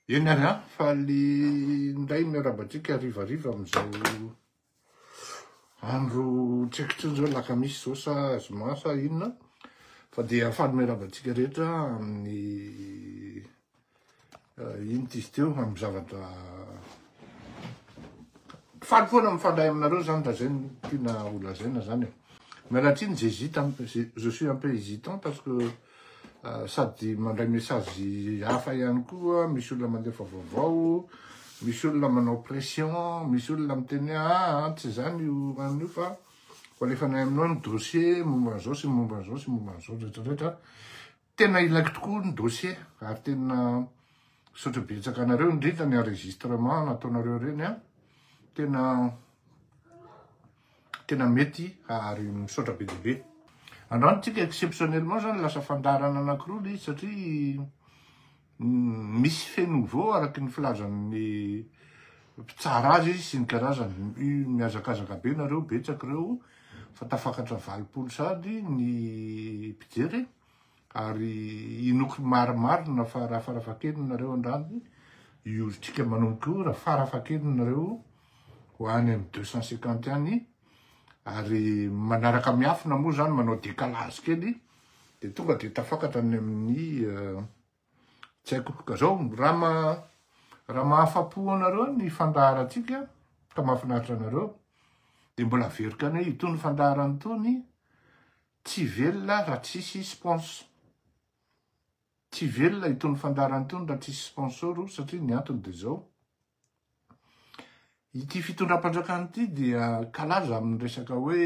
Eny ary an, faly indray miarahaba antsika harivariva amin'izao andro tsy haiko intsony izao lakamisy izao sa zoma sa inona fa dia faly miarahaba antsika rehetra amin'ny eh, ino izy teo amin'ny zavatra faly foana mifandray aminareo zany raha zay no tiana holazaina zany e. Mialatsiny zezita je suis un peu hésitant parce que Sady mandray message hafa ihany koa, misy olona mandefa vaovao, misy olona manao pression, misy olona miteny hoe aa tsy izany io anona io fa ho alefanay aminao ny dossier momba an'izao sy momba an'izao sy momba an'izao retraretra. Tena ilaiko tokoa ny dossier ary tena misaotra betsaka anareo indrindra ny enregistrement nataonareo ireny an, tena. tena mety ary misaotra be dia be. Andrantsika exceptionnellement zany lasa fandaharana anankiroa ilay izy satria misy fait nouveau araky ny filazan'ny mpitsara azy izy sy ny karazany. Mihazakazaka be nareo betsaka ireo fa tafakatra valopolo sady ny mpijery. Ary inoako marimarina fa raha farafahakeliny nareo andrany, io olontsika manomboka io, raha farafahakeliny nareo ho any amin'ny deux cent cinquante any, ary manaraka miafina moa zany, manao decalage kely, dia tonga dia tafakatra any amin'ny tsy haiko, ka zao raha raha mahafapo anareo ny fandaharantsika ka mahafinaritra anareo dia mbola averiko any hoe itony fandaharana itony, Tsy velona raha tsisy spons. Tsy velona itony fandaharana itony raha tsisy sponsor o, satria ny antony dia izao, ity fitondram-panjakana ity dia kalaza amin'ny resaka hoe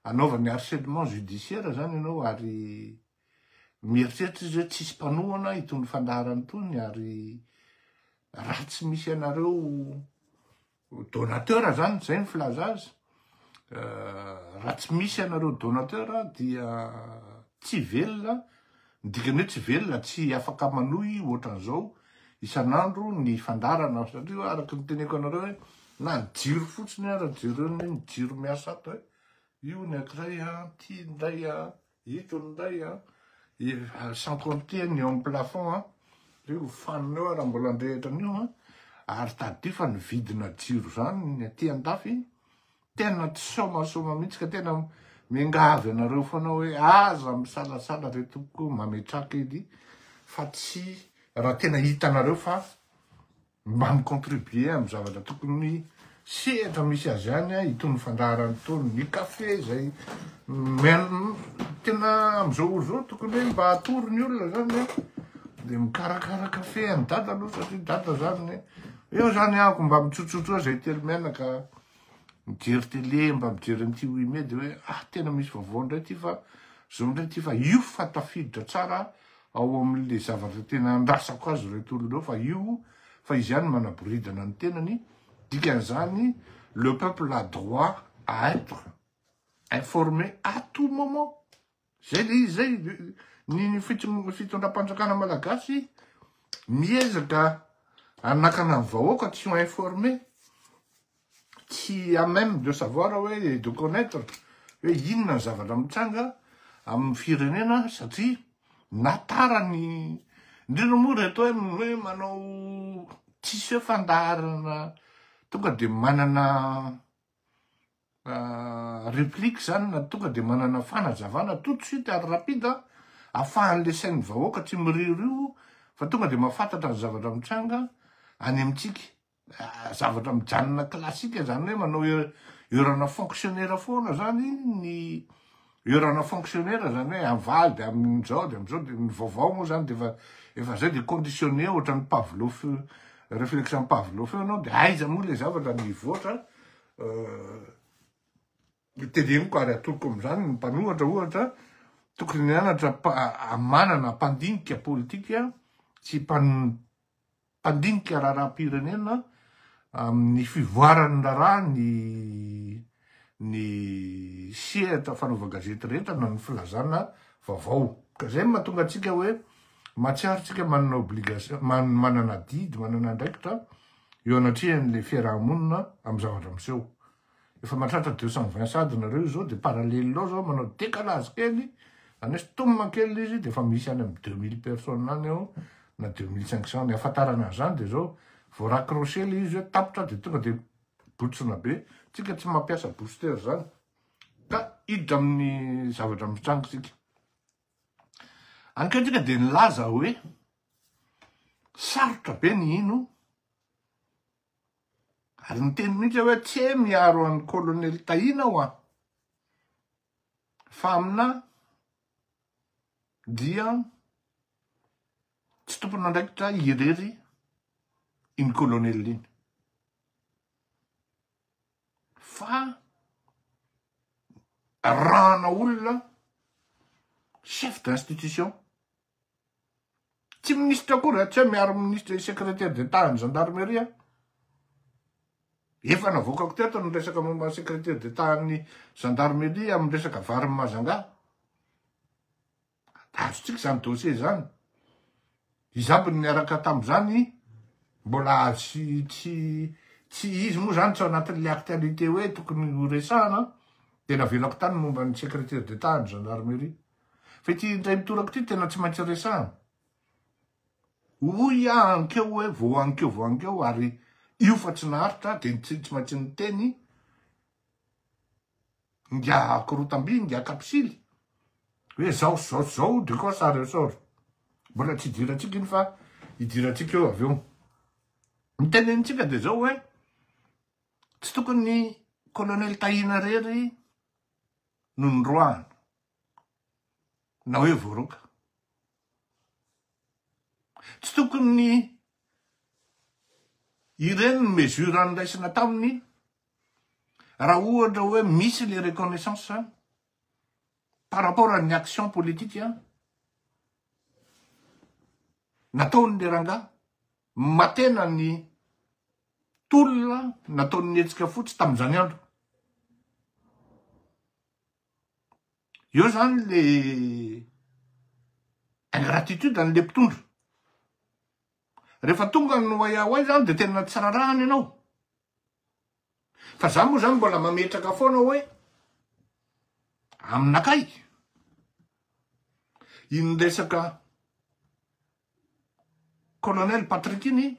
anaovany harcèlement judiciaire izany ianao ary mieritreritra izy hoe tsisy mpanohana itony fandaharana itony ary raha tsy misy anareo Donateur zany, zay ny filaza azy. Euh, raha tsy misy anareo donateur dia tsy velona, ny dikany hoe tsy velona, tsy afaka manohy ohatran'izao isan'andro ny fandarana satria araka ny teneko anareo hoe na ny jiro fotsiny ara jereo ny jiro miasa ato e. Io ny akiray a, ty ndray a. Ito indray an, sans compter ny eo amin'ny plafond an, io fanina io raha mbola handrehitra an'io an, ary tadidio fa ny vidina jiro izany ny aty andafy tena tsy somasoma mihitsy ka tena miangavy anareo foana hoe aza misalasala re tompoko mametraka edy fa tsy raha tena hitanareo fa Mba mi-contribuer amin'ny zavatra tokony sehatra misy azy ihany itony fandaharana itony, ny café izay tena amin'izao ora izao tokony hoe mba atoro ny olona izany hoe dia mikarakara café an'i dada aloha satria dada izany eo izany ahako mba mitsotsotso eo izay telo menaka mijery télé mba mijery an'ity oui mais dia hoe ah tena misy vaovao indray ity fa izao indray ity fa io fa tafiditra tsara aho ao amin'le zavatra tena andrasako azy ireto olona ireo fa io fa izy ihany manaboridana ny tenany dikan'izany le peuple a droit à être informé à tout moment zay le izy zay ny fitondram-panjakana malagasy miezaka anakana ny vahoaka tsy ho informé tsy à même de savoir hoe et de connaitre hoe inona ny zavatra mitranga amin'ny firenena satria na tara ny indrindra moa reto hoe manao tsisy hoe fandaharana tonga dia manana replique zany na tonga dia manana fanazavana tout de suite ary rapide afahan'le sain'ny vahoaka tsy miriorio fa tonga dia mahafantatra ny zavatra mitranga any amintsika zavatra mijanona classique zany hoe manao heurana fonctionnaire foana zany ny heurana fonctionnaire zany hoe avaly de amin'izao de amin'izao de ny vaovao moa zany de efa efa zay de conditionné ohatran'ny Pavlov réflexion Pavlov eo anao de aiza moa le zavatra mivoatra euh, teneniko ary atoroko amin'izany ny mpanohatra ohatra tokony nianatra manana mpandinika politika sy mpan mpandinika raharaham-pirenena amin'ny fivoaran'ny raharaha ny ny sehatra fanaovan-gazety rehetra na ny filazana vaovao. Ka izay no mahatonga antsika hoe mahatsiaro antsika manana obligation, manana adidy, manana andraikitra eo anatrehan'ilay fiaraha-monina amin'ny zavatra miseho. Efa matratra deux cent vingt sad nareo izao de parallel ao zao manao décalage kely aneso tomina kely izy de efa misy any am deux mille personnes any ao na deux mille cinq cents ny ahafantarana an'zany de zao vao raccrocher le izy hoe tapitra de tonga de botsina be tsika tsy mampiasa booster zany ka hiditra amin'ny zavatra mitranga tsika ankehitriny de nilaza hoe sarotra be ny hino Ary niteny mihitsy aho hoe tse miaro an'i Colonel Tahina aho an! Fa aminà dia tsy tompon'andraikitra irery iny Colonel iny. Fa arahana olona chef d'institution. Tsy minisitra akory raha tsy hoe miaro minisitra sy secrétaire d'Etat an'ny gendarmerie. Efa navoakako teto ny resaka momba ny secrétaire d'Etat an'ny gendarmerie amin'ny resaka varin'i Mazangà. Azontsika izany dossier izany. Izaho mbola niaraka tamin'izany, mbola tsy tsy tsy izy moa izany tsy ao anatin'ilay actualité hoe tokony horesahana, dia navelako tany momba ny secrétaire d'Etat an'ny gendarmerie. Fa ity indray mitoraka ity tena tsy maintsy resahana. Hoy aho ankeo hoe vao ankeo vao ankeo ary io fa tsy naharitra dia tsy tsy maintsy niteny ngia korotamby ngia kapisily hoe zao sy zao sy zao de koa sary sôro. Mbola tsy hidirantsika iny fa hidirantsika eo avy eo. Ny tenenintsika dia zao hoe tsy tokony colonel Tahina rery no noroahana. na hoe voaroaka. Tsy tokony ny ireny ny mesure niraisana taminy raha ohatra hoe misy le reconnaissance par rapport an'ny action politique nataony le rangaha matena ny tolona nataon'ny hetsika fotsy tamin'izany andro. Eo zany le ingratitude an'le mpitondra. Rehefa tonga ny oay oay zany de tena tsy rarahany ianao. Fa za moa zany mbola mametraka foana hoe aminakay iny resaka colonel Patrick iny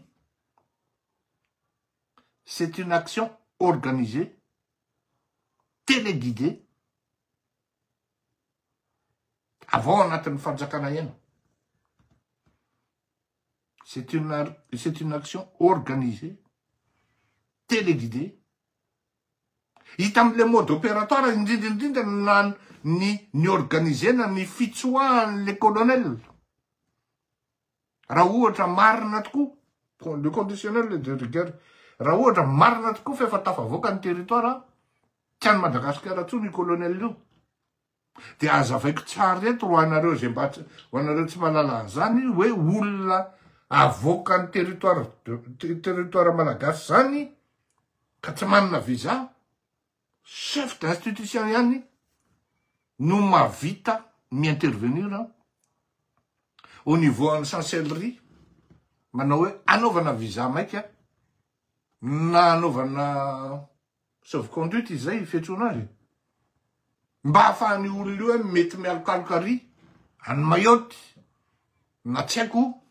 c'est une action organisée téléguidé avy ao anatin'ny fanjakana ihany c'est une c'est une action organisée téléguidé hita amle mode opératoire indrindra indrindra na ny ny organisena ny fitsoahan'le colonel Raha ohatra marina tokoa, le conditionnel le de rigueur, raha ohatra marina tokoa f'efa tafavoaka ny territoire, tsy any Madagasikara intsony io colonel io, de azavaiko tsara eto ho anareo ze mba, ho anareo tsy mahalala an'zany hoe olona avoakan'ny territoire, territoire malagasy zany ka tsy manana visa, Chef d'institution ihany no mahavita mi-intervenir an, au niveau an'ny chancellerie, manao hoe anaovana visa maika, na anaovana sauve conduite izay ifiantsoana azy e, mba ahafahan'io olona io hoe mety mialokaloka ary any Mayotte, na tsy haiko.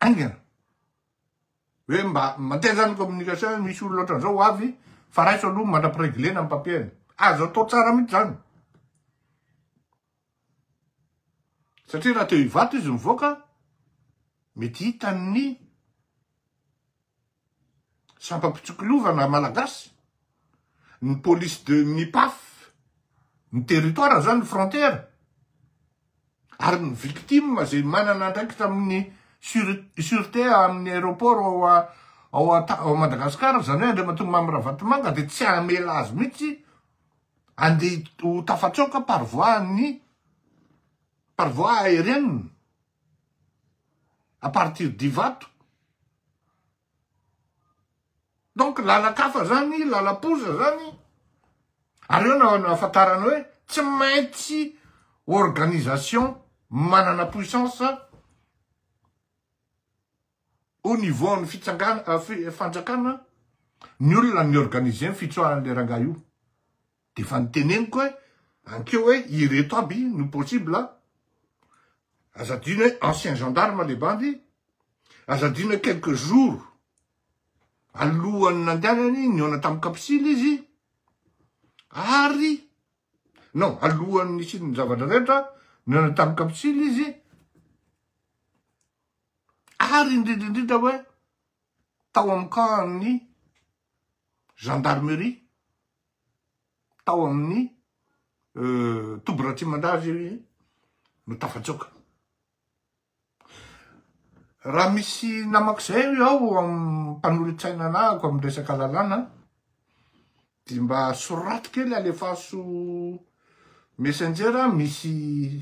haingana hoe mba mandeha zany communication misy olona ohatran'izao ho avy fa raiso aloha mandra-pireglena ny papier-ny azo atao tsara mihitsy zany satria raha teo hivato izy mivoaka mety hitan'ny sampam-pitsikilovana malagasy, ny police de ny paf, ny territoire zany ny frontière, ary ny victime zay manana andraikitra amin'ny surete amin'ny aeroport ao a ao a ao Madagascar zany hoe Andriamatoa Mamy Ravatomanga de tsy hamela azy mihitsy andeha ho tafatsoaka par voie an'ny par voie aérienne. à partir d'Ivato. Donc lalan-kafa zany, lalam-poza zany, ary eo na nahafantarana hoe tsy maintsy organisation manana puissance au niveau ny fitsangana, fanjakana, ny olona ny organiser ny fitsoaran'le rangahy io. Dia efa niteneniko hoe ankeo hoe ireto aby no possible a! Aza adino hoe ancien gendarme le bandy, aza adino hoe quelques jours alohan'ny nandehanany nihaona tamin'ny kapisily izy ary non alohan'ny nisian'ny zavatra rehetra nihaona tamin'ny kapisily izy ary indrindra indrindra hoe tao amin'ny camp-n'ny gendarmerie tao amin'ny toby Ratsimandrava io izy no tafatsoaka. Raha misy namak'izay io aho amin'ny mpanolo-tsaina anahako amin'ny resaka lalàna dia mba soraty kely alefaso messenger misy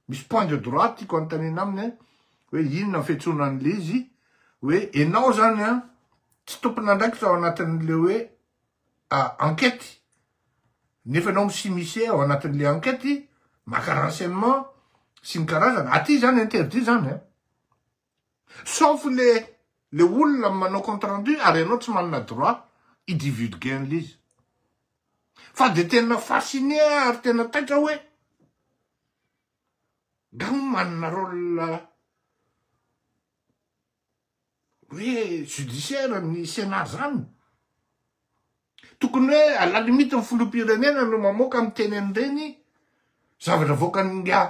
Misy point de droite tiako anontaniana aminy an, hoe inona ny fiantsoana an'ilay izy, hoe enao zany an tsy tompon'andraikitra ao anatin'ilay hoe enquete, nefa enao mi-s'immiscer ao anatin'ilay enquete, maka renseignement sy ny karazany, aty zany interdit zany an. Sauf le le olona manao compte rendu ary ianao tsy manana droit hi divulguer an'le izy. Fa de tena fasciné aho ary tena taitra hoe nga hono manana rôle hoe judiciaire ny Sénat zany? Tokony hoe à la limite ny filoham-pirenena no mamoaka miteny an'ireny zavatra avoakan'ingahy.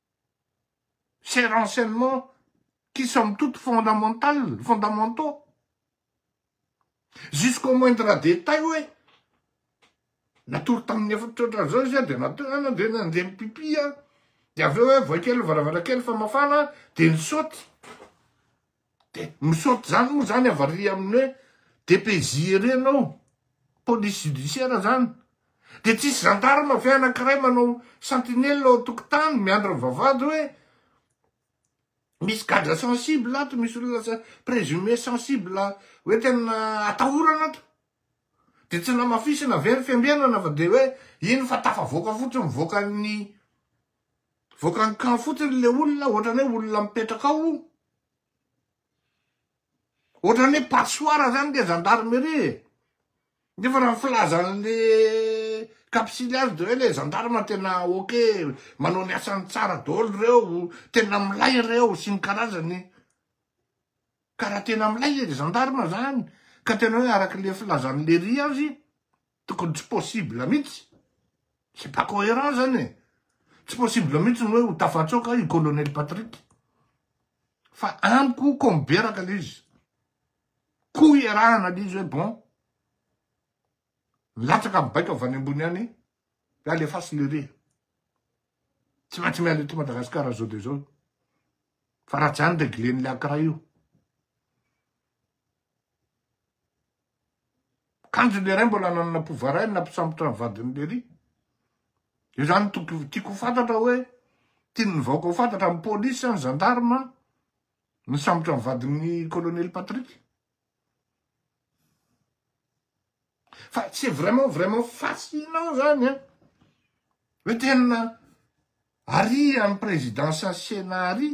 ces renseignements qui somme toute fondamentales, fondamentaux, jusqu'au moindre détail hoe natory tamin'ny efatra ohatran'izao izy dia natory dia nandeha mipipi dia avy eo hoe voay kely ny varavarankely fa mafana dia nisaoty. De misaoty zany moa zany avaria amin'ny hoe dpj ery ianao, police judiciaire zany. De tsisy gendarme ve anakiray manao sentinelle ao an-tokotany miandry ny vavahady hoe misy gadra sensible ato, misy olona présumé sensible hoe tena atahorana ato. De tsy namafisina ve ny fiambenana fa de hoe iny fa tafavoaka fotsiny mivoaka ny. Vokany kamo fotsiny le olona ohatrany hoe olona mipetraka ao io. Ohatrany hoe passoire zany le gendarmerie e. Nefa raha ny filazan'le kapsily azy de hoe le gendarme tena ok, manao ny asany tsara daholo reo, tena milay reo sy ny karazany. Ka raha tena milay le gendarme zany ka tena hoe arak'le filazan'le ry azy, Tokony tsy possible mihitsy. C'est pas cohérent zany e. Tsy possible mihitsy ny hoe ho tafatsoaka i Colonel Patrick. Fa amiko koa miberaka le izy. Koa iarahana le izy hoe bon. Milatsaka mibaiko avy any ambony any. Hoe alefaso le re. Tsy maintsy miala eto Madagasikara zao de zao. Fa raha tsy any reglen'le Accra io. Kanjo le ray mbola nanana pouvoir ray nampisambotra ny vadiny le ry. Io zany tokony tiako ho fantatra hoe tian'ny vahoaka ho fantatra ny police sa ny gendarme nisambotra ny vadin'ny colonel Patrick. Fa c'est vraiment vraiment fascinant zany an. Hoe tena ary an'i président Sasena ary.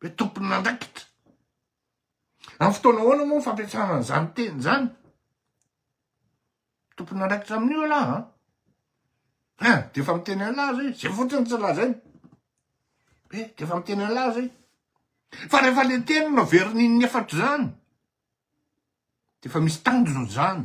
Hoe tompon'andraikitra. Amin'ny fotoana ahoana moa ny fampiasana an'izany teny izany? Tompon'andraikitra amin'io ialahy an. Hein, dia efa miteny an'ilay zay, zay fotsiny tsy lazainy. Hoe eh, dia efa miteny an'ilay zay. Fa rehefa le teny no averin'in'ny efatra izany, dia efa misy tanjona izany.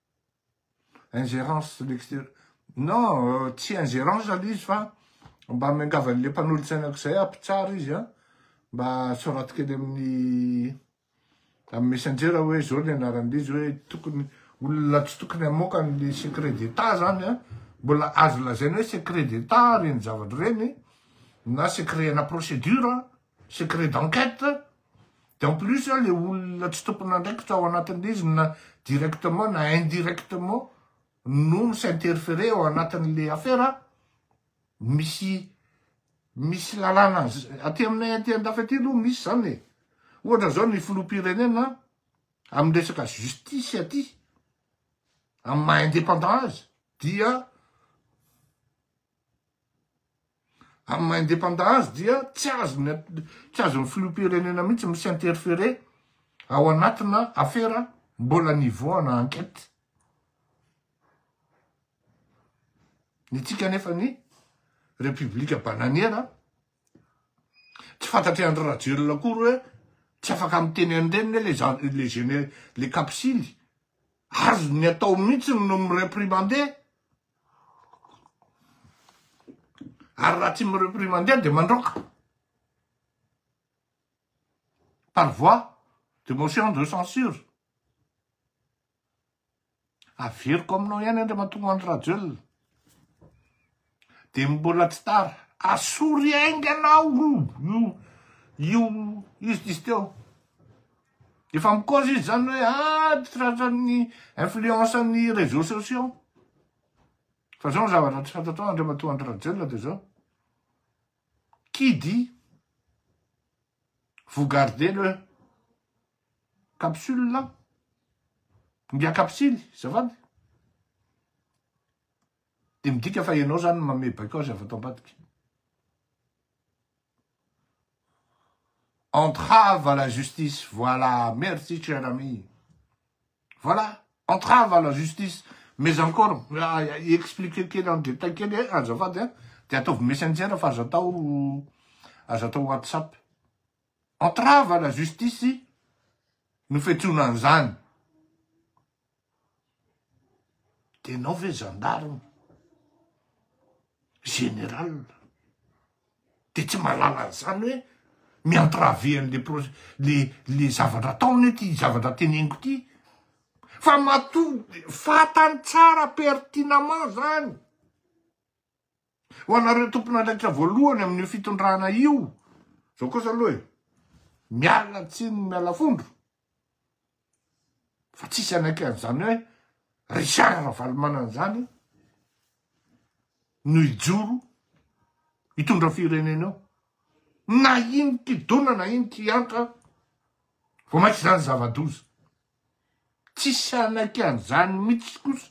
Ingérence de l'extérieur. Non, tsy ingérence aloha izy fa mba miangavy an'ilay mpanolotsaina aok'izay ah, mpitsara izy ah, mba soraty kely amin'ny amin'ny messenger hoe izao ny anaran'ilay izy hoe tokony olona tsy tokony hamoaka an'ilay secret d'état zany ah, mbola azo lazaina hoe secret d'état reny zavatra reny na secret ana procédure ah. secret d'enquête de en plus le olona tsy tompon'andraikitra ao anatin'izy na directement na indirectement no mi s'interférer ao anatin'le affaire misy misy lalàna aty aminay aty andafy aty aloha misy zany e ohatra zao ny filoham-pirenena amin'ny resaka justice aty amin'ny maha indépendant azy dia Amin'ny maha independant azy dia tsy azony tsy azon'ny filoham-pirenena mihitsy mi s'interférer ao anatina afera mbola nivoahana enquête. Ny antsika anefa ny République bananiera tsy fantatry Andry Rajoelina akory hoe tsy afaka miteny an'ireny ve le le géné le kapsily? Azony atao mihitsy ny mi-reprimander. ary raha tsy mirepris mandeha dia mandroaka par voie de motion de censure averiko aminao ihany Andriamatoa Andry Rajoelina dia mbola tsy tara asory haingana ao io io io justice teo Dia efa mi-cause izy izany hoe ady tratran'ny influence an'ny réseaux sociaux. Fa izao ny zavatra tsy fantatrao Andriamatoa Andry Rajoelina dia izao. Qui dit vous gardez le capsule là Mbia kapsily, zafady. Dia midika fa ianao izany mamebaiko azy avy ato ambadika. Entrave à la justice voilà merci cher ami voilà entrave à la justice mais encore expliquer kely en détail kely e azafady a de ataovy messenger fa aza atao aza atao whatsapp entrave à la justice no fiantsoana an'izany Dia ianao ve gendarme, général, dia tsy mahalala an'izany hoe mi-entraver an'ilay projet, ilay, ilay zavatra ataony ity, ilay zavatra teneniko ity? Fa matoa, fantany tsara pertinemment izany. Ho anareo tompon'andraikitra voalohany amin'io fitondrana io, zao kosa aloha e, miala tsiny miala fondro, fa tsisy anaiky an'izany hoe Richard Ravalomanana izany no hijoro hitondra firenena eo. Na iny kidona na iny kiantra vao mainka izany zava-doza. Tsisy hanaiky an'izany mitsy kosa.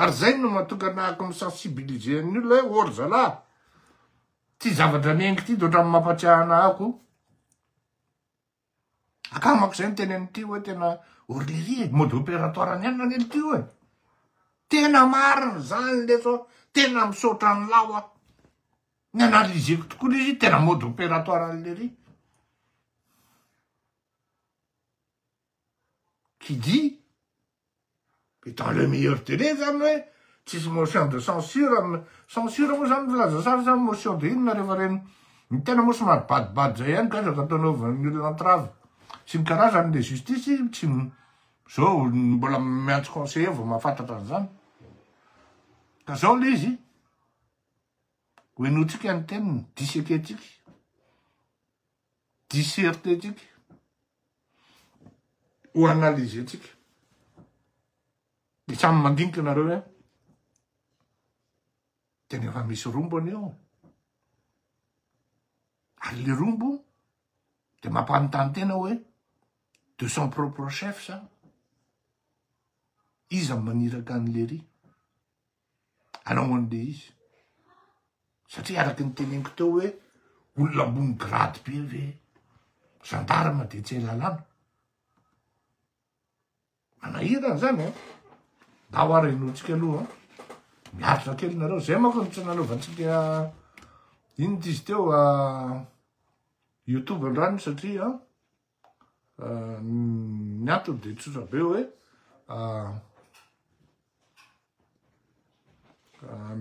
Ary zay no mahatonga nahako mi sensibiliser an'ny olona hoe oh ry zalahy, ty zavatra miainga ty de ohatran'ny mampatsiahy anahako oh. Akamako zay ny teny an'ity hoe tena orlery e, mode opératoire any ihany anie ty oe. Tena marina zany lesy oh, tena misaotra anlah aho. Ni-analyser-ko tokoa lesy tena mode opératoire an'lery. qui dit et dans le meilleur délai zany hoe tsisy motion de censure amina censure moa zany filaza sary zany motion de inona rehefa reny ny tena moa somary badibady zay ihany gazaka atao anaovan'ny olona entrave sy ny karazany le justice tsy zao mbola miantso conseiller vao mahafantatra an'izany ka zao le izy hoenotsika ny teniny disekentsika disserter-tsika, ho analyser-tsika. Dia samy mandinika ianareo hoe tena efa misy rombo anie ao. Ary le rombo dia mampanontany tena hoe de son propre chef sa iza maniraka an'i Lery. Anao anle izy satria araky ny teneniko teo hoe olona ambony grade be ve gendarme de tsy hay lalàna. Manahirana zany an. Mba ho arahinontsika aloha miaritra kely nareo zay manko no tsy nanaovantsika inona izy teo youtube andrany satria Ny antony dia tsotra be hoe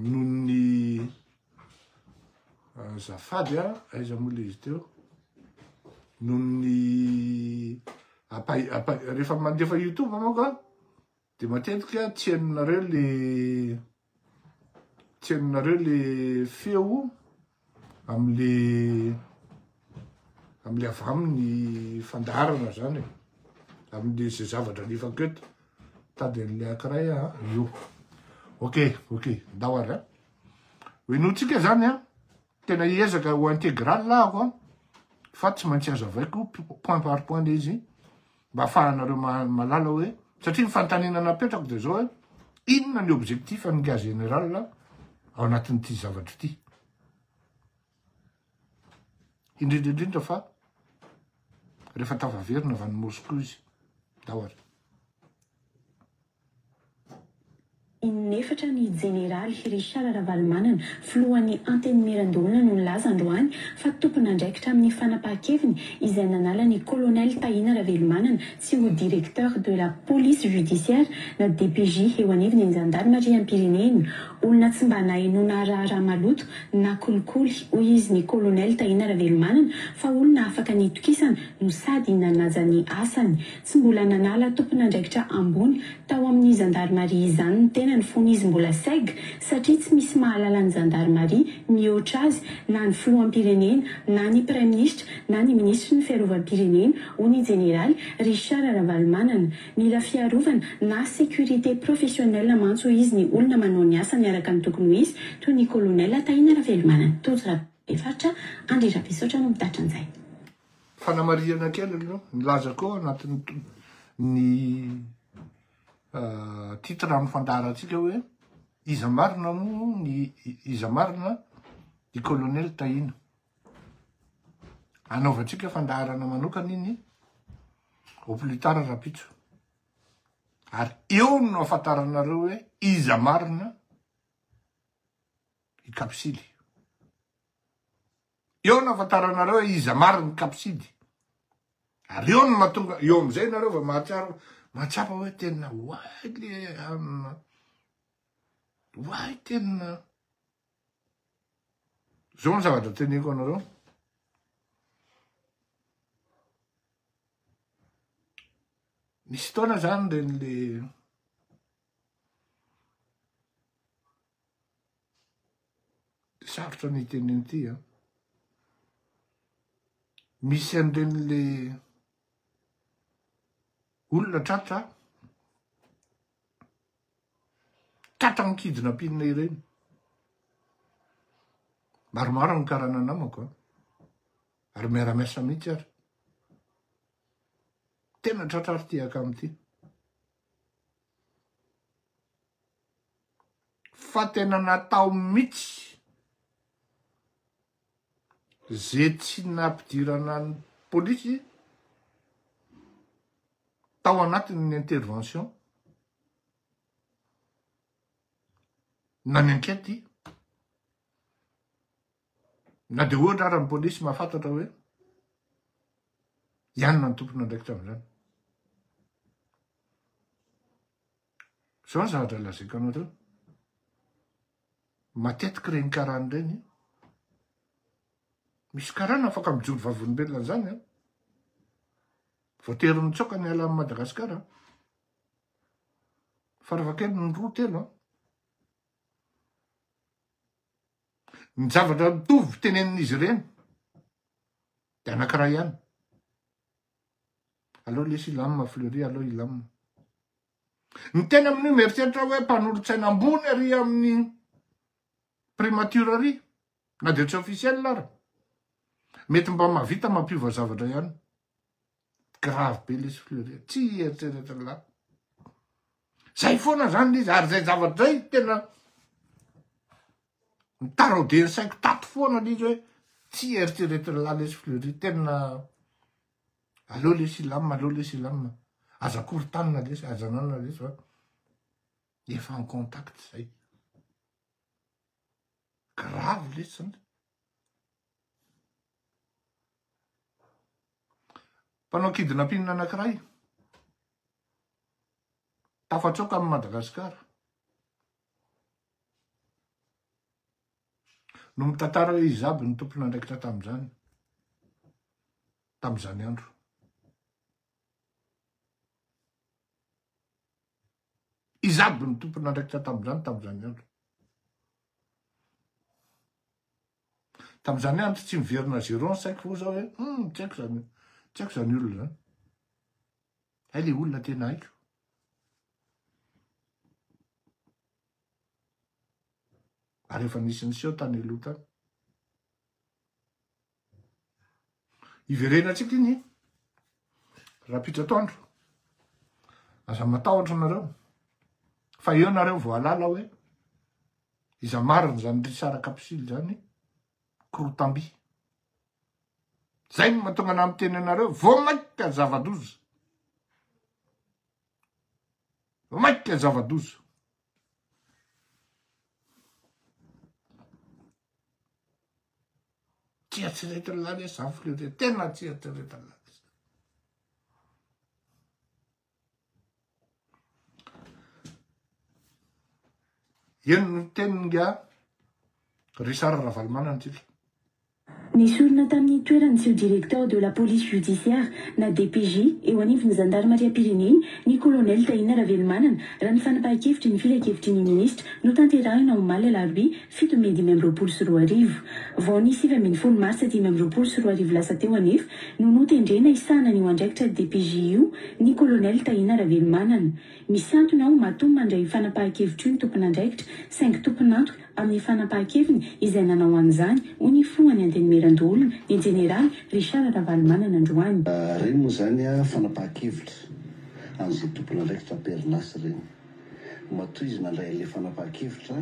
noho ny zafady a, aiza moa le izy teo, noho ny, rehefa mandefa youtube manko a. Dia matetika tsy henonareo le tsy henonareo le feo amle amle avy aminy fandaharana zany amle ze zavatra alefako eto tady anle akiray a io ok ok ndao ary a ho enotsika zany a tena hiezaka ho integral ako a fa tsy maintsy azavaiko point par point le izy mba afahanareo mahalala hoe satria ny fantanina napetrako dia zao hoe inona ny objectif an'ny ga général ao anatin'ity zavatra ity indrindra indrindra fa rehefa tafaverina avy any Moscou izy daholo Inefatra ny Jeneraly Richard Ravalomanana, filohan'ny Antenimierandoholona no nilaza androany fa tompon'andraikitra amin'ny fanapahan-keviny izay nanala ny Colonel Tahina Ravelomanana tsy ho Directeur de la Police Judiciaire na DPJ eo anivon'ny Zandarimariam-pirenena. Olona tsy mba nahenoana raharaha maloto na kolikoly hoy izy ny Colonel Tahina Ravelomanana fa olona afaka nitokisana no sady nanaja ny asany. Tsy mbola nanala tompon'andraikitra ambony tao amin'ny zandarimaria izany ny tenany fony izy mbola seg satria tsy misy mahalala ny zandarimaria mihoatra azy na ny filoham-pirenena na ny praiminisitra na ny minisitry ny fiarovam-pirenena, hoy ny jeneraly Richard Ravalomanana. Mila fiarovana na sécurité professionnelle mantsy hoy izy ny olona manao ny asany araka ny tokony ho izy toy ny kolonela Tahina Ravelomanana. Tojo Rabefaritra, Andry Rabesaotra no mitatitra an'izay. Fanamarihana kely aloha, nilaza koa ao anatin'ny ny titre amin'ny fandaharantsika hoe iza marina moa ny iza marina i colonel Tahina. Anaovantsika fandaharana manokana iny au plus tard rahampitso. Ary eo no ahafantaranareo hoe iza marina i Kapisily. Eo no afantaranareo hoe iza marina ny kapsidy. Ary eo no mahatonga, eo amin'izay nareo vao mahatsiaro, mahatsapa hoe tena way le hanina. Way tena. Zao ny zavatra teneko anareo. Nisy taona zany ren'le Sarotra ny hiteny an'ity a. Misy an'ireny le olona tratra, tratra amin-kidina am-pinina ireny. Maromaro amin'ny karana namako a, ary miara-miasa mihitsy ary. Tena tratra ary ty akama ty. fa tena natao mitsy ze tsy nampidirana ny polisy tao anatin ny intervention na ny enquete na de ohatra ara ny polisy mahafantatra hoe ianona ny tompon andraikitra amizany Zao ny zavatra lazaiko anareo. Matetiky reny karana reny. Misy karana afaka mijoro vavolombelona an'izany an. Voatery mitsoaka ny ala Madagasikara. Faravakely ny roa telo an. Ny zavatra mitovy tenenin'izy ireny dia anankiray ihany. Aleo lesy hilamina Fleury, aleo hilamina. Ny teny amin'io mieritreritra hoe mpanolotsaina ambony ary amin'ny primature ary, na dia tsy officiel ary. Mety mba mahavita mampiova zavatra ihany. Grave be lesy Fleury, tsy hieritreritra lahy. Zay foana zany izy, ary zay zavatra zay tena Mitaraodia ny saiko tato foana aloha izy hoe tsy eritreretin'ny lahy lesy Fleury, tena aleo lesy hilamina, aleo lesy hilamina, aza korontanina lesy, aza ananana lesy fa efa en contact izay. Grave lesy zany. Mpanao kidnapping anankiray tafatsoaka amin'i Madagasikara. no mitantara hoe iza aby ny tompon'andraikitra tamin'izany, tamin'izany andro. Iza aby ny tompon'andraikitra tamin'izany, tamin'izany andro. Tamin'izany andro tsy miverina zéro ny saiko fo zao hoe, hmm, tsy haiko zany, tsy haiko zany olona zany. Hay le olona tena haiko. Ary efa nisy niseho tany aloha tany. Iverenantsika iny rahampitso atoandro. Aza matahotra nareo. Fa eo nareo voalala hoe iza marina izany risara kapisily izany korotamby. Zay no mahatonga anah miteny anareo vao mainka zava-doza. Maika zava-doza. Tsy eritreretin'ny lalesa zany filoha tena tsy eritreretin'ny lalesa. Eny ny teniny nga Richard Ravalomanana tsika. Nesorina tamin'ny toerany tsy ho Directeur de la Police Judiciaire na DPJ eo anivon'ny Zandarimariam-pirenena ny Colonel Tahina Ravelomanana raha ny fanapahan-kevitry ny filankevitry ny Minisitra notanterahina omaly alarobia fito mey dimy amby roapolo sy roa arivo. Vao ny sivy ambin'ny folo martsa dimy amby roapolo sy roa arivo lasa teo anefa no notendrena hisahana an'io andraikitra DPJ io ny Colonel Tahina Ravelomanana. Misintona aho matoa mandray io fanapahan-kevitro io ny tompon'andraikitra, saingy tompon'antoka amin'ny fanapahan-keviny izay nanao an'izany, hoy ny filohan'ny Antenimierandoholona, ny jeneraly Richard Ravalomanana androany. Ireny moa izany fanapahan-kevitra an'izay tompon'andraikitra am-perinasa ireny. Matoa izy nandray an'ilay fanapahan-kevitra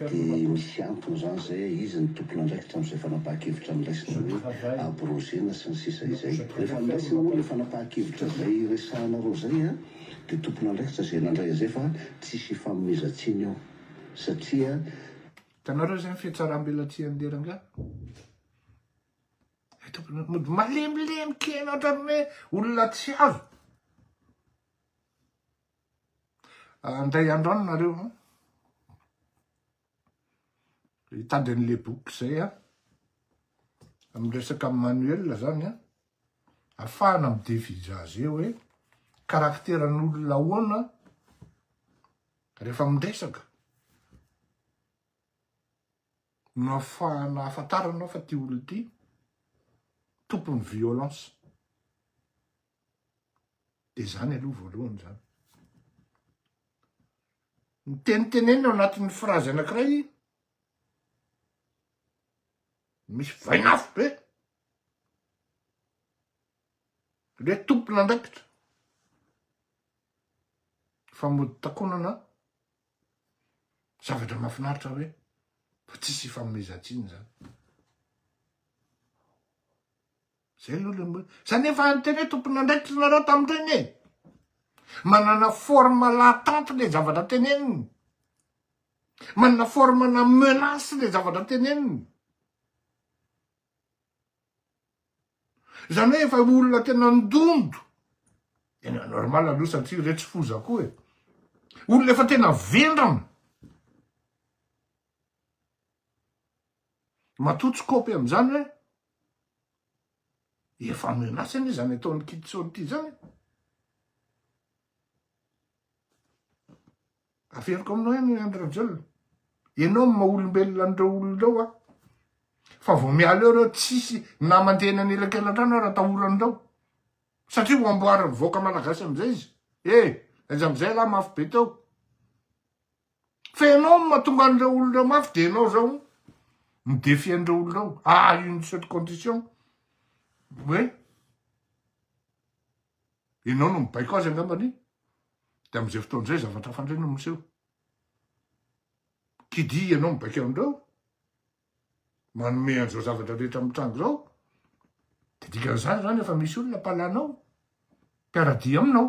dia misy antony izany izay hoe iza ny tompon'andraikitra amin'izay fanapahan-kevitra noraisina hoe abrogena sy ny sisa izay. Rehefa noraisina moa ilay fanapahan-kevitra izay resahanareo izay, dia tompon'andraikitra izay nandray an'izay fa tsisy hifanomezan-tsiny eo satria. Hitanareo izay ny fihatsaram-belatsihan'ilay rangahy? Ilay tompon'andraikitra mody malemilemy kely ohatran'ny hoe olona tsy azo. Handray andro any nareo an. Hitady an'le boky zay a. Miresaka manuel zany a. Afahana midevizaze hoe karakteran'olona ahoana rehefa miresaka. No afahana ahafantaranao fa ty olona ty tompon'ny violence. Dia izany aloha voalohany izany. Ny tenitenenina ao anatin'ny frazy anankiray, misy vainafo be. Le tompon'andraikitra. Fa mody takonana zavatra mahafinaritra hoe fa tsisy ifanomezan-tsiny izany. Zay aloha le hoe, zany efa interet tompon'andraikitra nareo tamin'ireny e! Manana forme l'attente le zavatra teneniny, manana forme na menace le zavatra teneniny. Zany hoe efa olona tena ndondo, tena normal aloha satria reo tsy foza koa e! Olona efa tena vendrana. Matoa tsy kopy am'zany hoe, Efa menace anie zany ataon'i Kitso ity zany e. Averiko aminao ihany Andry Rajoelina. Ianao no maha-olombelona an'ireo olona ireo a. Fa vao miala eo ireo tsisy na mandeha eny anelakelan-trano ary atahoran'ireo. Satria ho amboarin'ny vahoaka malagasy amin'izay izy. E! Aiza amin'izay lahy mafy be teo. Fa ianao no mahatonga an'ireo olona mafy dia ianao izao no défi an'ireo olona ao. Ah, une seule condition. Hoe, ianao no mibaiko azy angambany, dia amin'izay fotoana izay zavatra hafa indray no miseho. Qui dit ianao mibaiko an'ireo, manome an'izao zavatra rehetra mitranga izao, dia dikan'izany izany efa misy olona mpalanao, mpiara-dia aminao.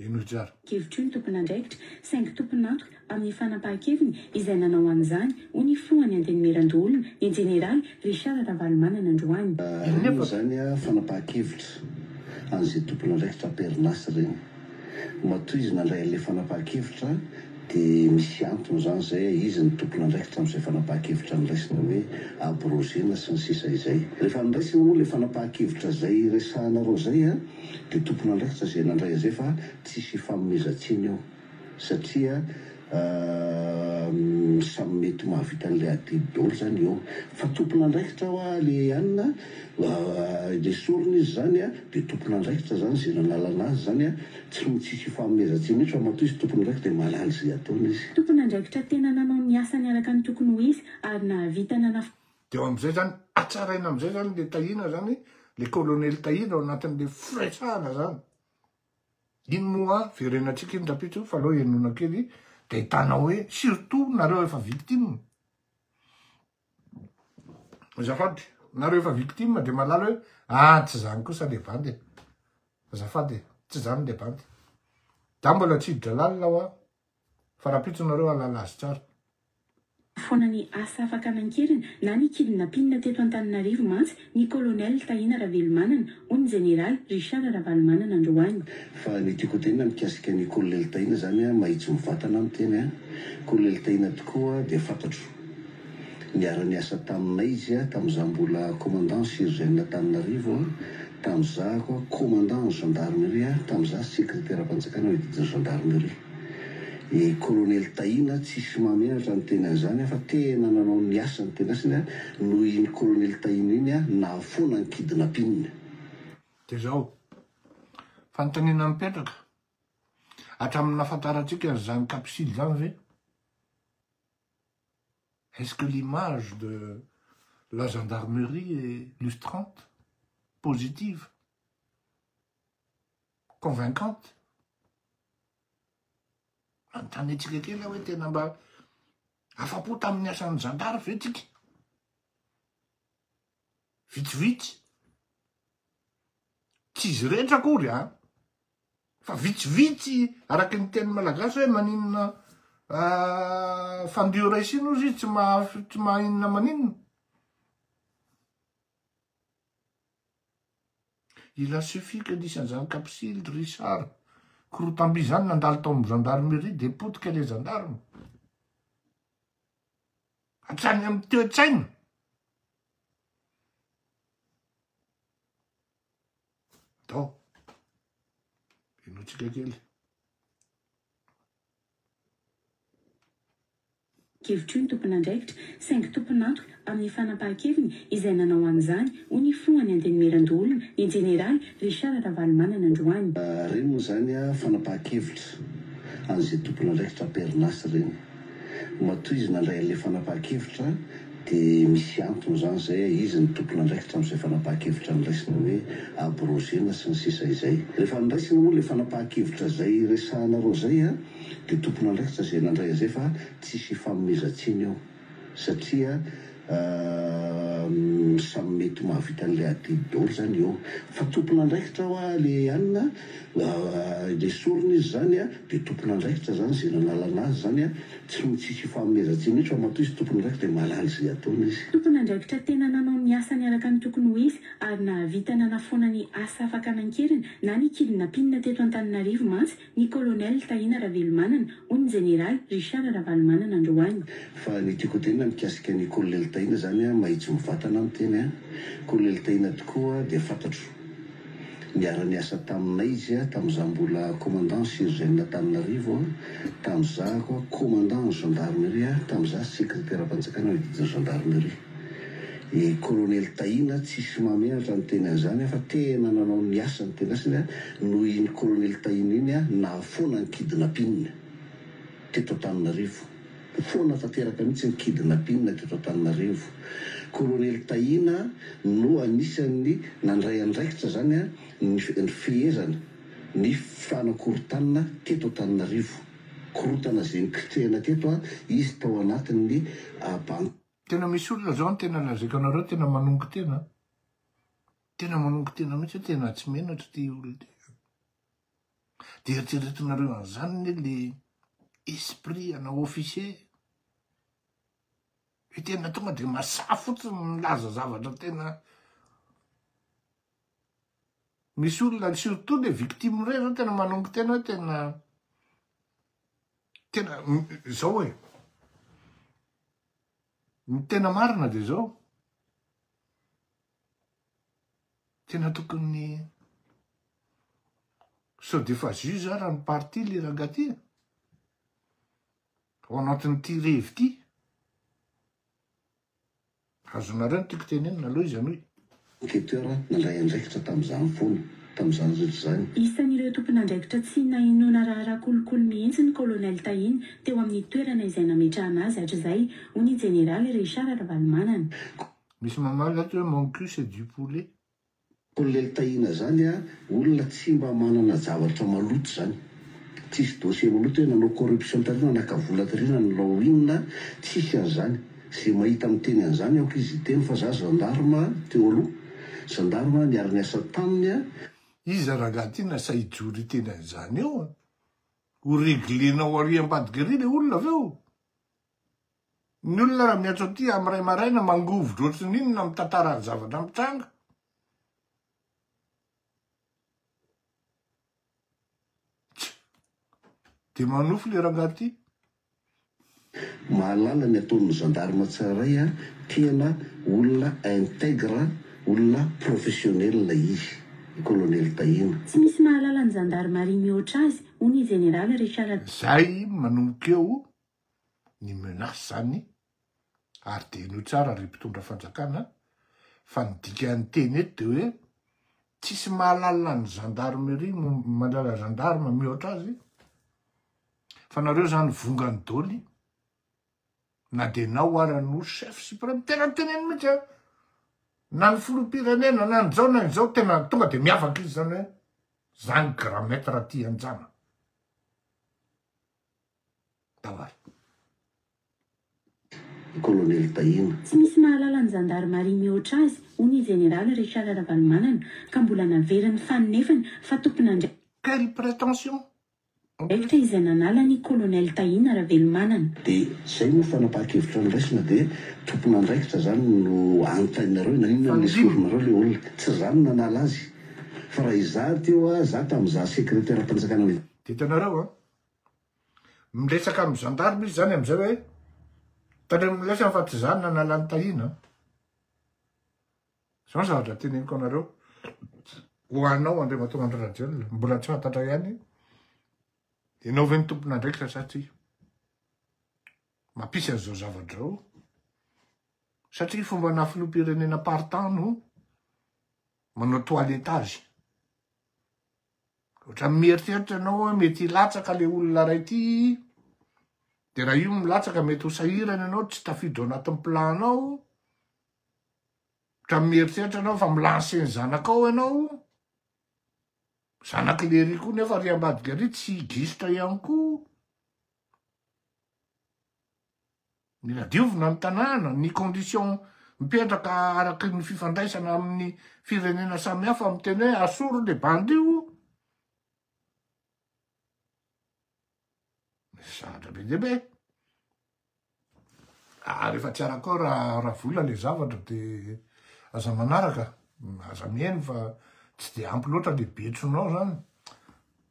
Hevitr'io ny tompon'andraikitra saingy tompon'antoka amin'ny fanapahan-keviny izay nanao an'izany, hoy ny filohan'ny Antenimierandoholona, ny jeneraly Richard Ravalomanana androany. Ireny moa izany fanapahan-kevitra an'izay tompon'andraikitra am-perinasa ireny. Matoa izy nandray an'ilay fanapahan-kevitra dia misy antony izany izay hoe iza no tompon'andraikitra amin'izay fanapahan-kevitra noraisina hoe abrogena sy ny sisa izay. Rehefa noraisina moa ilay fanapahan-kevitra izay resahanareo izay, dia tompon'andrasa izay nandray an'izay fa tsisy hifanomezan-tsiny eo satria samy mety ho mahavita an'ilay adidy daholo izany eo fa tompon'andraikitra hoa ilay anona nesorina izy izany dia tompon'andraikitra izany izay nanalana azy izany tsy ho tsisy hifanomezan-tsiny mihitsy fa matoa izy tompon'andraikitra dia mahalala izay ataony izy. Tompon'andraikitra tena nanao ny asany araka ny tokony ho izy ary nahavita nanafaka. Dia eo amin'izay izany, hatsaraina amin'izay izany ilay Tahina izany, ilay kolonely Tahina ao anatin'ilay firetsahana izany. Iny moa verenantsika iny rapitso fa aleo henona kely dia ahitana hoe surtout nareo efa victime. Azafady, nareo efa victime dia malala hoe ah tsy izany kosa ilay bandy e. Azafady e, tsy izany ilay bandy. Za mbola tsy hiditra lalina aho Fa rapitso nareo halala azy tsara. foana ny asa afaka nankeriny na ny kidnapin teto Antananarivo mantsy ny Colonel Tahina Ravelomanana hoy ny Jeneraly Richard Ravalomanana androany. Fa ny tiako hotenina mikasika an'i Kolonely Tahina zany mahitsy mivantana aho miteny an! Kolonely Tahina tokoa dia fantatro. Niara-niasa taminay izy tamin'izaho mbola commandant surgène-Antananarivo, tamin'izaho koa commandant gendarmerie, tamin'izaho sekreteram-panjakana eo didin'ny gendarmerie. I colonel Tahina tsisy mahamenatra ny teny an'izany fa tena nanao ny asany tena asany ary noho iny colonel Tahina iny aho nahafoana ny kidnapping. Dia izao, fanontaniana mipetraka, hatramin'ny nahafantarantsika an'izany capsule izany ve? Est ce que l'image de la gendarmerie est lustrante, positive, convaincante? Manontany antsika kely aho hoe tena mba afa-po tamin'ny asan'ny zandary ve tsika? Vitsivitsy. Tsy izy rehetra akory an! Fa vitsivitsy araky ny teny malagasy hoe maninona fandio raisina ozy izy tsy mahainona maninona. Il a suffit que nisy an'izany Kapsily, Richard, korotamby izany nandalo tao amin'ny gendarmerie dia potika ilay gendarme. Hatrany amin'ny toe-tsaina. Tao. Henointsika kely. kevitry ny tompon'andraikitra, saingy tompon'antoka amin'ny fanapahan-keviny izay nanao an'izany, hoy ny Filohan'ny Antenimierandoholona, ny Jeneraly Richard Ravalomanana androany. Ireny moa izany fanapahan-kevitra an'izay tompon'andraikitra am-perinasa ireny. Matoa izy nandray an'ilay fanapahan-kevitra dia misy antony izany izay, izy no tompon'andraikitra amin'izay fanapahan-kevitra niraisina hoe abrogena sy ny sisa izay. Rehefa niraisina moa ilay fanapahan-kevitra izay resahanareo izay dia tompon'andraikitra izay nandray an'izay fa tsisy ifanomezan-tsiny eo satria, Umm samy mety mahavita an'ilay adidy daholo zany eo fa tompon'andraikitra hoa le an le sorona izy zany a de tompon'andraikitra zany ze nanala anazy zany a tsy mi tsisy ifanomezan-tsiny mihitsy fa matoa izy tompon'andraikitra de mahalala ze ataony izy. Tompon'andraikitra tena nanao ny asany araka ny tokony ho izy ary nahavita nanafoana ny asa fakana an-keriny na ny kilinapinina teto Antananarivo mantsy Ny Colonel Tahina Ravelomanana, hoy ny Jeneraly Richard Ravalomanana androany. Fa ny tiako hodinina mikasika an'i Kolonely Tahina izany an, mahitsy mivatana aho miteny an, Kolonely Tahina tokoa dia fantatro. Niara-niasa taminay izy tamin'izaho mbola Commandant Surgène-Antananarivo an, tamin'izaho Commandant ny Gendarmerie an, tamin'izaho Sekreteram-panjakana ny Didin'ny Gendarmerie. I Kolonely Tahina tsisy mameatra ny teny an'izany aho fa tena nanao ny asany tena asany aho noho iny Kolonely Tahina iny aho nahafoana ny kidnapin teto Antananarivo. Foana tanteraka mihitsy ny kidnapin teto Antananarivo. Kolonely Tahina no anisan'ny nandray andraikitra izany ny fehezana ny fanakorontanina teto Antananarivo. Korontana izay niklitrehina teto izy tao anatin'ny banky. Tena misy olona zao tena lazaiko anareo tena manongo tena an. Tena manongo tena mihitsy hoe tena tsy menatra ity olona ity an. Dia eritreretinareo an'izany anie le esprit ana officier hoe tena tonga dia masaha fotsiny ny milaza zavatra tena misy olona surtout le victime iray zao tena manongo tena hoe tena Tena zao e. Ny tena marina dia zao. Tena tokony sao dia efa juge ara ny parti le rangahy ty e. Ao anatin'ity revy ity. Azonareo ny tiako tenenina aloha izy anoy. Enquêteur nandray andraikitra tamin'izany foana, tamin'izany rehetra izany. Isan'ireo tompon'andraikitra tsy nahenoana raharaha kolikoly mihitsy ny Colonel Tahina teo amin'ny toerana izay nametrahana azy hatrizay, hoy ny Jeneraly Richard Ravalomanana. Misy mamaly ato hoe mon cul c'est du poulet. Kolonely Tahina zany a olona tsy mba manana javatra maloto zany tsisy dossier maloto hoe nanao corruption tary nanaka vola tary nanao inona tsisy anzany ze mahita miteny anzany aoka izy hiteny fa za gendarme teo aloha gendarme niara niasa taminy a Iza rangah ty nasa hijoro hiteny anzany eo a? Ho reglenao ary ambadika ary le olona avy eo? Ny olona raha miantso aty amin'ny iray maraina mangovitra ohatry ny inona mitantara ny zavatra mitranga. Dia manofy le rangahy ty. Mahalala ny ataon'ny gendarme tsaray a, tena olona integre, olona professionnel izy i colonel Tahina. Tsy misy mahalala ny zandarimaria mihoatra azy, hoy ny Jeneraly Richard. Izay manomboka eo ny menace zany ary dia henoy tsara ry mpitondra fanjakana fa ny dikan'ny teny eto dia hoe tsisy mahalala ny gendarmerie mandrara gendarme mihoatra azy fa nareo zany vongany doly na dia nao ara no chef supreme tena miteneny mihitsy a na ny filoham-pirenena na ny zao na ny zao tena tonga dia miavaka izy zany hoe zany grand maître aty anjana Tawarr. Kolonely Tahina. Tsy misy mahalala ny zandarimaria mihoatra azy, hoy ny Jeneraly Richard Ravalomanana, ka mbola naverin'ny fanonefany fa tompon'andr. Quelle prétention? Draikitra izay nanala ny Kolonely Tahina Ravelomanana. Dia izay moa fanapahan-kevitra noraisina dia tompon'andraikitra izany no anontaininareo hoe naninona no nesorinareo ilay olona? Tsy izaho no nanala azy fa raha izaho teo a, izaho tamin'izaho sekreteram-panjakana ny. Dia hitanareo an! Miresaka amin'ny gendarme izy izany amin'izay hoe, tandremo ny lesany fa tsy za no nanala an'i Tahiana an! Izao ny zavatra teneniko anareo, ho anao Andriamatoa Andry Rajoelina, mbola tsy fantatra ihany ianao ve no tompon'andraikitra sa tsia. Mampisy an'izao zavatra izao, satria fombanà filoham-pirenena am-paritany io manao toiletage. Ohatran'ny mieritreritra ianao hoe mety hilatsaka ilay olona iray ity, dia raha io no milatsaka mety ho sahirana ianao, tsy tafiditra ao anatin'ny plan-nao, ohatran'ny mieritreritra ianao fa mi-lancer ny zanakao ianao, zanak'ilay ery koa nefa ry ambadika ary tsy gisitra ihany koa. Mila diovina ny tanàna, ny condition mipetraka araky ny fifandraisana amin'ny firenena samihafa miteny hoe asoro le bandy io. Misy zavatra be dia be. Ah, rehefa tsy arakao raha ra vola le zavatra de aza manaraka, aza mihaino fa tsy de ampy loatra le betsonao zany.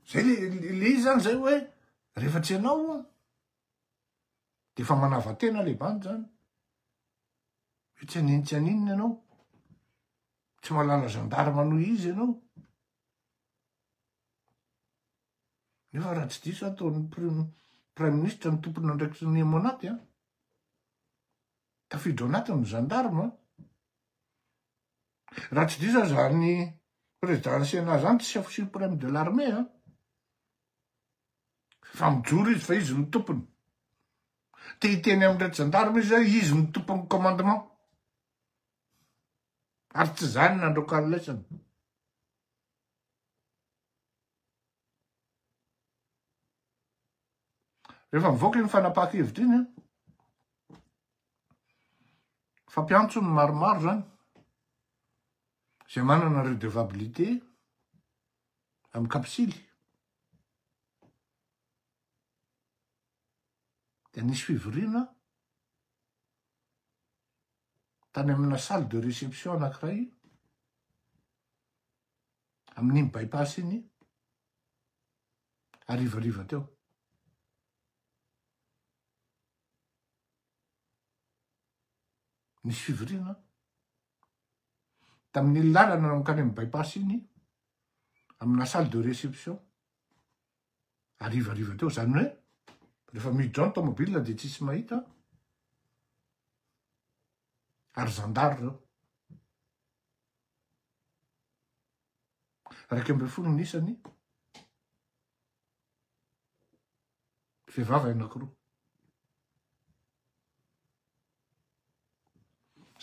Zay le le izy zany zay hoe rehefa tsy ianao Dia efa manava-tena ilay bandy izany. Hoe tsy hanin tsy haninona ianao. Tsy mahalala gendarme noho izy ianao. Nefa raha tsy diso ataon'ny prime prime ministre ny tompon'andraikitry ny Monac an. Tafiditra ao anatiny ny gendarme. Raha tsy diso aza ny président ny Sénat izany chef suprême de l'armée an. Fa mijoro izy fa izy no tompony. Te hiteny amin'ireo jandarma izy hoe izy no tompon'ny commandement. Ary tsy izany no nandroakany lesona. Rehefa mivoaka iny fanapahan-kevitra iny, fa mpiantso ny maromaro zany, izay manana redevabilité amin'ny kapisily, Dia nisy fivoriana tany amina salle de réception anankiray amin'iny bypass iny harivariva teo. Nisy fivoriana. tamin'iny lalana mankany amin'ny bypass iny, amina salle de réception, harivariva teo, izany hoe rehefa miditra ao ny taomobilina dia tsisy mahita, ary zandary ireo. Iraika ambin'ny folo ny isany, vehivavy anankiroa.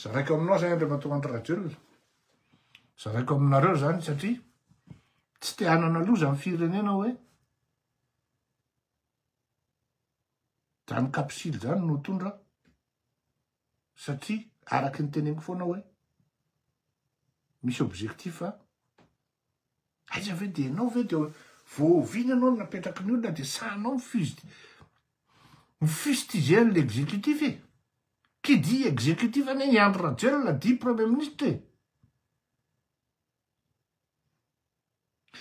Zaraiko aminao izany Andriamatoa Andry Rajoelina. Zaraiko aminareo izany satria tsy te hanana loza ny firenena hoe zany kapisily zany no tondra satria araky ny teneniko foana hoe misy objectif Aiza ve dia ianao ve dia vao oviana ianao no napetraky ny olona dia sahanao mifust mifustiger an'ilay exécutif e. Qui dit exécutif anie i Andry Rajoelina dit premier ministre e.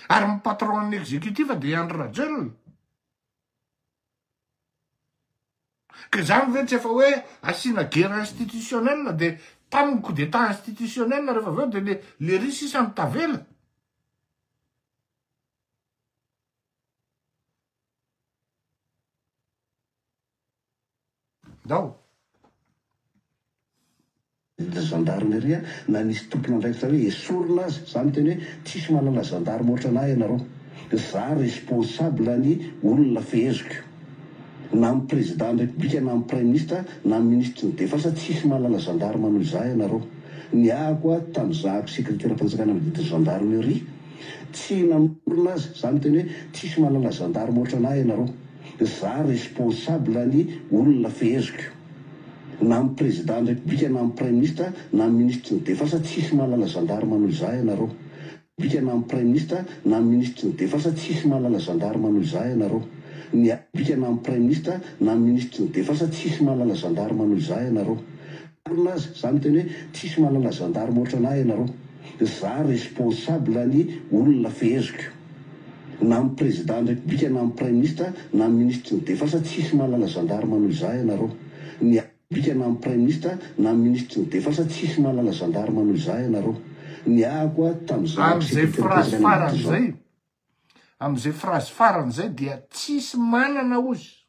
Ary ny patron an'ny exécutif dia i Andry Rajoelina. Ka izany ve tsy efa hoe asiana guerre institutionnelle dia tamin'ny coup d'état institutionnelle rehefa avy eo dia le lery sisa no tavela? Ndao. Zandarmeria na nisy tompon'andraikitra hoe esorina aza za miteny hoe tsisy manana zandarme otran'ahy ianareo za responsable ny olona feheziko na amin'ny président ny république na amin'ny praiminisitra na amin'ny minisitry ny defense tsisy manana zandarme noho izaho ianareo niahako aho tamin'ny zahako sekreteram-panjakana mididy ny zandarmeria tsy namorona aza za miteny hoe tsisy manana zandarme otran'ahy ianareo za responsable ny olona feheziko na ny prezidany repoblika na ny praiminisitra na ny minisitry ny defensa tsisy mahalala zandarma noho izaho ianareo repoblika na ny praiminisitra na ny minisitry ny defensa tsisy mahalala zandarma noho izaho ianareo ny repoblika na ny praiminisitra na ny minisitry ny defensa tsisy mahalala zandarma noho izaho ianareo marina aza za miteny hoe tsisy mahalala zandarma ohatranahy ianareo za responsable ny olona feheziko. na amin'ny Président ny République na amin'ny Praiminisitra na amin'ny Ministry ny Defensa tsisy mahalala Gendarme noho izaho ianareo ny République na amin'ny Praiminisitra na amin'ny Ministry ny Defensa tsisy mahalala Gendarme noho izaho ianareo niahako aho tamin'izao Amin'izay phrase farany izay Amin'izay phrase farany izay dia tsisy manana ozy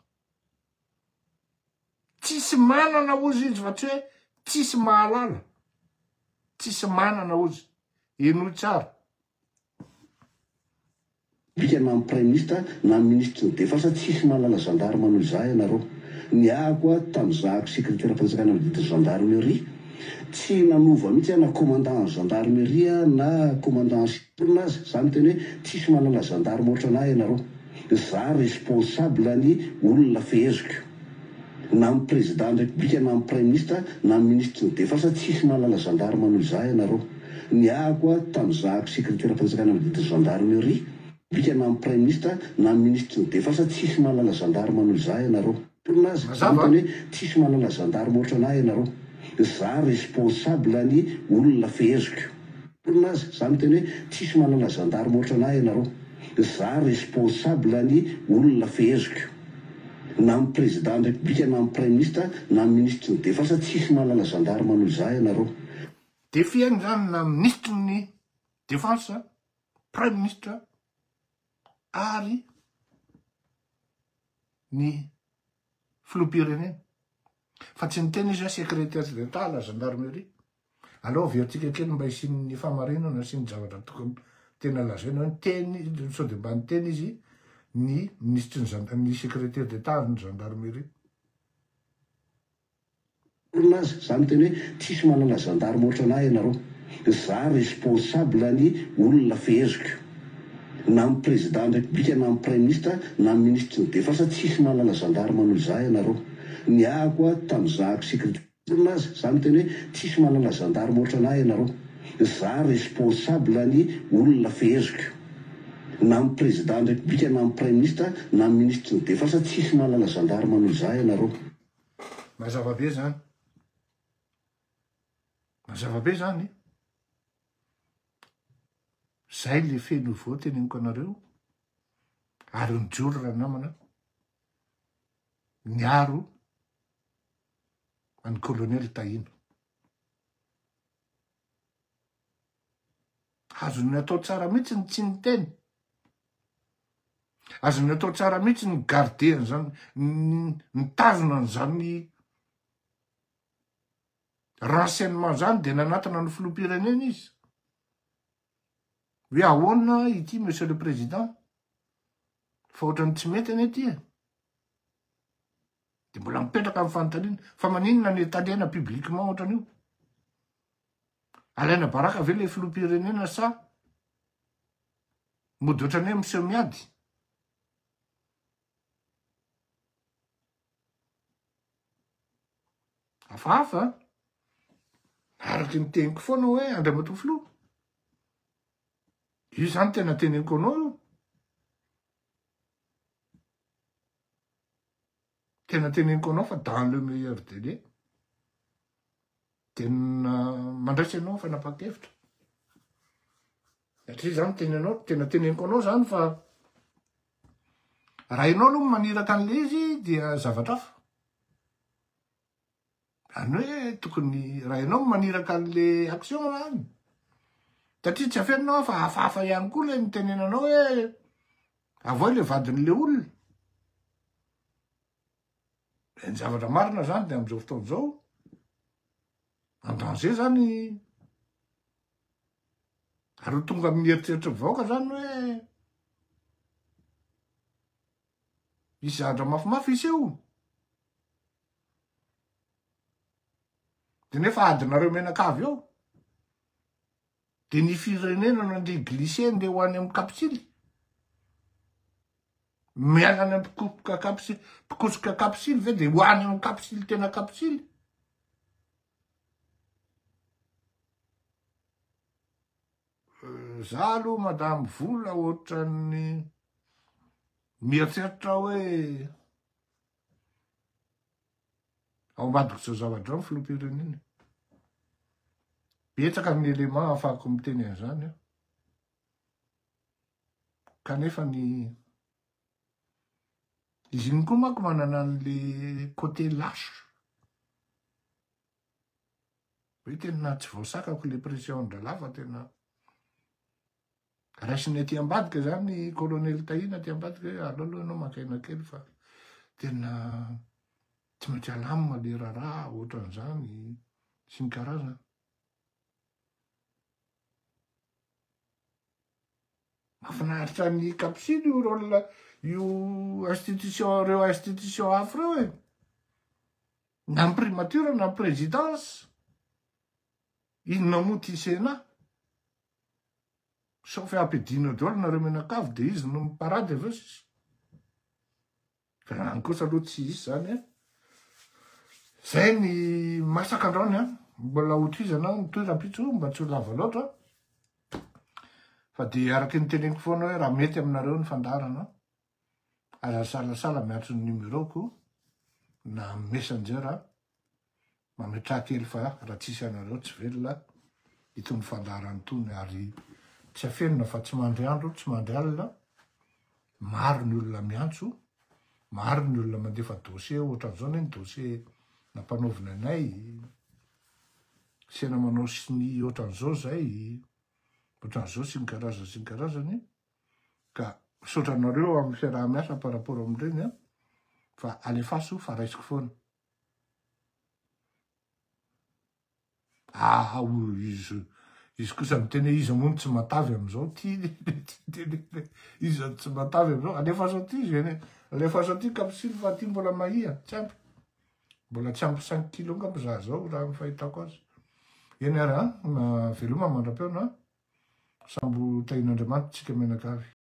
tsisy manana ozy izy fa tsy hoe tsisy mahalala tsisy manana ozy henoy tsara Bika na ny praiminisitra na ny minisitry ny defensa tsisy mahalala gendarme noho izaho ianareo. Niahako aho tam zahako secretaire fanjakana ny didin'ny gendarmerie. Tsy nanova mihitsy aho na commandant an'ny gendarmerie aho na commandant en chefn aza. Za miteny hoe tsisy mahalala gendarme otran'ahy ianareo. Za responsable ny olona feheziko. na amin'ny Prezidany Repoblika na amin'ny Praiminisitra na amin'ny Minisitry ny Defensa tsisy mahalala Gendarme noho izaho ianareo. Niahako aho tamin'ny zahako Sekreteram-panjakana Madidin'ny Gendarmerie Repoblika na amin'ny Praiminisitra na amin'ny Minisitry ny Defensa tsisy mahalala Gendarme noho izaho ianareo. Tononkalo aza no hitany hoe tsisy mahalala Gendarme ohatran'ahy ianareo. Izaho responsable an'ny olona feheziko. Tononkalo aza izaho no hitany hoe tsisy mahalala Gendarme ohatran'ahy ianareo. Izaho responsable an'ny olona feheziko. na ny président ny république na ny praiminista na ny ministry ny defensa tsisy mahalala gendarme noho izaho ianareo. Défi any zany na ministry ny defensa, praiminista ary ny filoham-pirenena fa tsy ny tena izy hoe secretaire d'etat la gendarmerie. Aleo averintsika kely mba hisian'ny fahamarinana sy ny zavatra tokony tena lazaina hoe niteny sao dia mba niteny izy ny minisitry ny zanda ny secrétaire d'état ary ny gendarmerie. Olona aza, za miteny hoe tsisy manana gendarme otranah ianareo, za responsable ny olona feheziko, na am président ny république na am prime ministre na am ministry ny defense tsisy manana gendarme noho za ianareo, niahako a tam zahako secrétaire. olona aza, za miteny hoe tsisy manana gendarme otrana ahy ianareo, za responsable ny olona feheziko, na am président ny république na am praiministra na am ministry ny defense tsisy manana gendarme noho za ianareo. Mazava be zany. Mazava be zany e. Zay le feno ho voa teneniko anareo ary mijoro ranamana miaro an'i Colonel Tahina. Azony atao tsara mihitsy ny tsy niteny. Azony atao tsara mihitsy ny garder an'izany, nitazona an'izany renseignement izany dia nanatona ny filoham-pirenena izy. Hoe ahoana ity Monsieur le Président? Fa ohatran'ny tsy mety anie ity e. Dia mbola mipetraka amin'ny fanontaniana fa maninona no itandrena publiquement ohatran'io? Alaina baraka ve ilay filoham-pirenena sa mody ohatran'ny hoe miseho miady? Hafahafa an! Araka ny teniko foana hoe Andriamatoa Filoha. Io zany tena teneniko anao io. Tena teneniko anao fa dans le meilleur délai de mandraisa ianao fanapahan-kevitra satria zany teny anao tena teneniko anao zany fa raha ianao aloha maniraka an'le izy dia zavatra afa Zany hoe tokony raha ianao no maniraka an'le action raha any satria tsy afeninao aho fa hafahafa ihany koa le nitenenanao hoe avoay le vadin'le olona. Dia ny zavatra marina zany dia amin'izao fotoana izao en danger zany ary ho tonga amin'ny eritreritry ny vahoaka zany hoe Misy zandra mafimafy hiseho. De nefa adinareo mianakavy eo. De ny firenena no andeha glisser andeha ho any amin'ny kapsily. Miala any amin'ny mpikosoka kapsily, mpikosoka kapsily ve de ho any amin'ny kapsily tena kapsily. Za aloha madame vola ohatran'ny mieritreritra hoe ao ambadiko zao zavadrao ny filohampirenena. Betsaka ny élément afahako miteny an'izany aho. Kanefa ny izy iny koa manko manana an'le côté lâche. Hoe tena tsy voasakako le pression-dRalahy fa tena raisiny aty ambadika zany kolonely Tahina aty ambadika hoe aleo aloha ianao maka aina kely fa tena tsy maintsy alamina le raharaha ohatran'izany sy ny karazany. Mahafinaritra ny kapsily io rôle io institution reo institution hafa reo e. Na ny primature na ny présidence, inona moa ity Sénat? Sao fe ampidiana daholo nareo mianakavy dia izy no mi parade avy eo sisa? Fa any kosa aloha tsy hisy zany an! Zay ny masaka androany an! Mbola ho tohizana aho mitohy rahampitso mba tsy ho lava loatra fa dia araka ny teneniko foana hoe raha mety aminareo ny fandaharana an! Aza salasala miantso ny numéro-ko na amin'ny messenger a! Mametraha kely fa raha tsisy anareo tsy velona itony fandaharana itony ary tsy afenina fa tsy mandry andro tsy mandry alina, maro ny olona miantso, maro ny olona mandefa dossier ohatran'izao ne ny dossier nampanaovina anay, sena manao sonia ohatran'izao zay, ohatran'izao sy ny karazany sy ny karazany. Ka misaotra anareo amin'ny fiaraha-miasa par rapport amin'ireny an, fa alefaso fa raisiko foana. Ah, izy, izy kosa miteny hoe iza moa no tsy matavy amin'izao, ty le, iza no tsy matavy amin'izao, alefaso aty izy, alefaso aty kapsily fa aty mbola mahia, tsy ampy. Mbola tsy ampy cinq kilos angamba za zao raha ny fahitako azy. Eny ary an, veloma mandra-peo na sambo tahian'Andriamanitra tsika mianakavy.